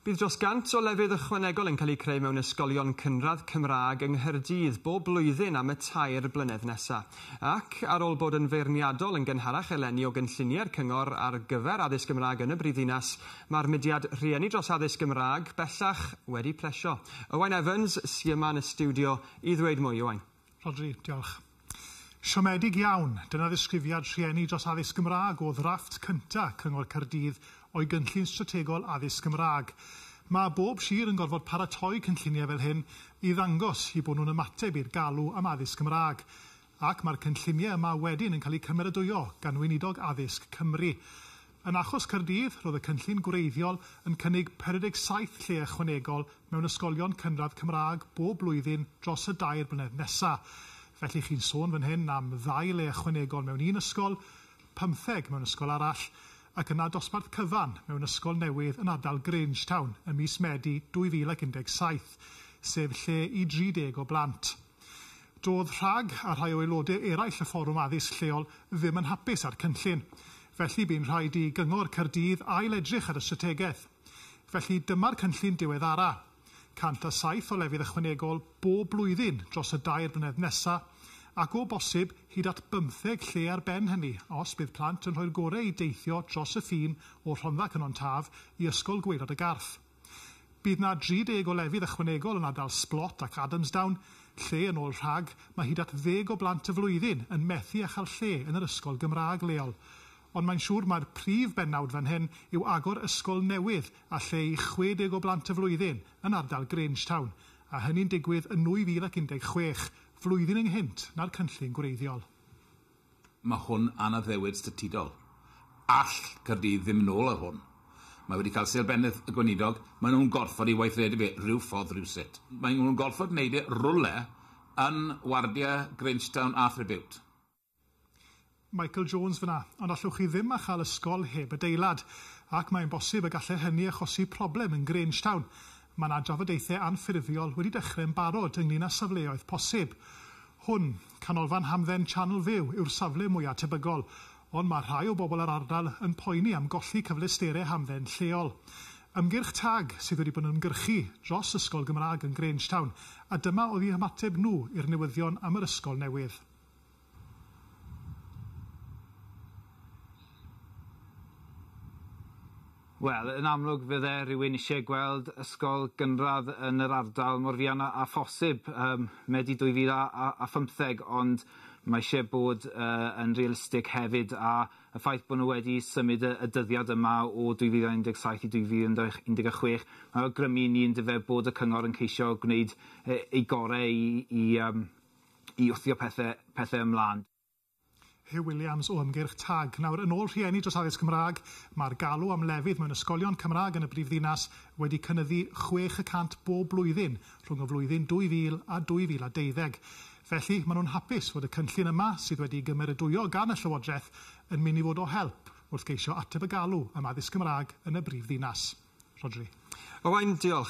Bydd dros 100 o lefydd ychwanegol yn cael eu creu mewn ysgolion cynradd Cymraeg yng Nghaerdydd bob blwyddyn am y tair blynedd nesaf. Ac, ar ôl bod yn feirniadol yn gynharach eleni o gynlluniau'r cyngor ar gyfer addysg Gymraeg yn y brifddinas, mae'r mudiad Rhieni dros Addysg Gymraeg bellach wedi plesio. Owain Evans sy yma yn y stiwdio i ddweud mwy. Owain. Rhodri, Diolch. Siomedig iawn. Dyna ddisgrifiad rhieni dros addysg Gymraeg o ddrafft cynta Cyngor Caerdydd o'i gynllun strategol addysg Gymraeg. Mae bob sir yn gorfod paratoi cynlluniau fel hyn i ddangos eu bod nhw'n ymateb i'r galw am addysg Gymraeg. Ac mae'r cynlluniau yma wedyn yn cael eu cymeradwyo gan Weinidog Addysg Cymru. Yn achos Caerdydd, roedd y cynllun gwreiddiol yn cynnig 57 lle ychwanegol mewn ysgolion cynradd Cymraeg bob blwyddyn dros y dair blynedd nesa'. Felly chi'n sôn fan hyn am ddau le ychwanegol mewn un ysgol, pymtheg mewn ysgol arall, ac yna dosbarth cyfan mewn ysgol newydd yn ardal Grangetown ym mis Medi 2017, sef lle i 30 o blant. Doedd rhag a rhai o aelodau eraill y Fforwm Addysg Lleol ddim yn hapus â'r cynllun. Felly bu'n rhaid i Gyngor Caerdydd ail-edrych ar y strategaeth. Felly dyma'r cynllun diweddara'. 107 o lefydd ychwanegol bob blwyddyn dros y dair blynedd nesa', ac o bosib hyd at bymtheg lle ar ben hynny os bydd plant yn rhoi'r gore i deithio dros y ffin o Rhondda Cynon Taf i Ysgol Gwaelod y Garth. Bydd 'na 30 o lefydd ychwanegol yn ardal Sblot ac Adamsdown, lle, yn ôl rhag, mae hyd at ddeg o blant y flwyddyn yn methu â chael lle yn yr ysgol Gymraeg leol. Ond mae'n siŵr mai'r prif bennawd fan hyn yw agor ysgol newydd â lle i 60 o blant y flwyddyn yn ardal Grangetown, a hynny'n digwydd yn 2016, flwyddyn ynghynt na'r cynllun gwreiddiol. Mae hwn yn addewid statudol. All Caerdydd ddim yn ôl ar hwn. Mae wedi cael Sêl Bennyth y Gweinidog, maen nhw'n gorfod ei weithredu fe ryw ffordd rywsut. Maen nhw'n gorfod gwneud e rywle yn wardiau Grangetown a Threbiwt. Michael Jones fan'na, ond allwch chi ddim â chael ysgol heb adeilad. Ac mae'n bosib y gallai hynny achosi problem yn Grangetown. Mae 'na drafodaethau anffurfiol wedi dechrau'n barod ynglŷn â safleoedd posib. Hwn, Canolfan Hamdden Channel View yw'r safle mwya' tebygol, ond mae rhai o bobl yr ardal yn poeni am golli cyfleusterau hamdden lleol. Ymgyrch tag sydd wedi bod yn ymgyrchu dros ysgol Gymraeg yn Grangetown, a dyma oedd eu hymateb nhw i'r newyddion am yr ysgol newydd. Wel, yn amlwg fydde rhywun isie gweld ysgol gynradd yn yr ardal mor fuan a a phosib ym Medi 2015, ond mae isie bod yn realistig hefyd, a y ffaith bod nhw wedi symud y y dyddiad yma o 2017 i 2016, mae awgrymu i ni yndyfe bod y cyngor yn ceisio gwneud ei gorau i i yym i wthio pethe pethe ymlân. Huw Williams o ymgyrch TAG. Nawr, yn ôl rhieni dros addysg Cymraeg, mae'r galw am lefydd mewn ysgolion Cymraeg yn y brifddinas wedi cynyddu chwech y cant bob blwyddyn rhwng y flwyddyn 2000 a 2012. Felly, maen nhw'n hapus fod y cynllun yma, sydd wedi'i gymeradwyo gan y Llywodraeth, yn mynd i fod o help wrth geisio ateb y galw am addysg Cymraeg yn y brifddinas. Rhodri. Owain, diolch.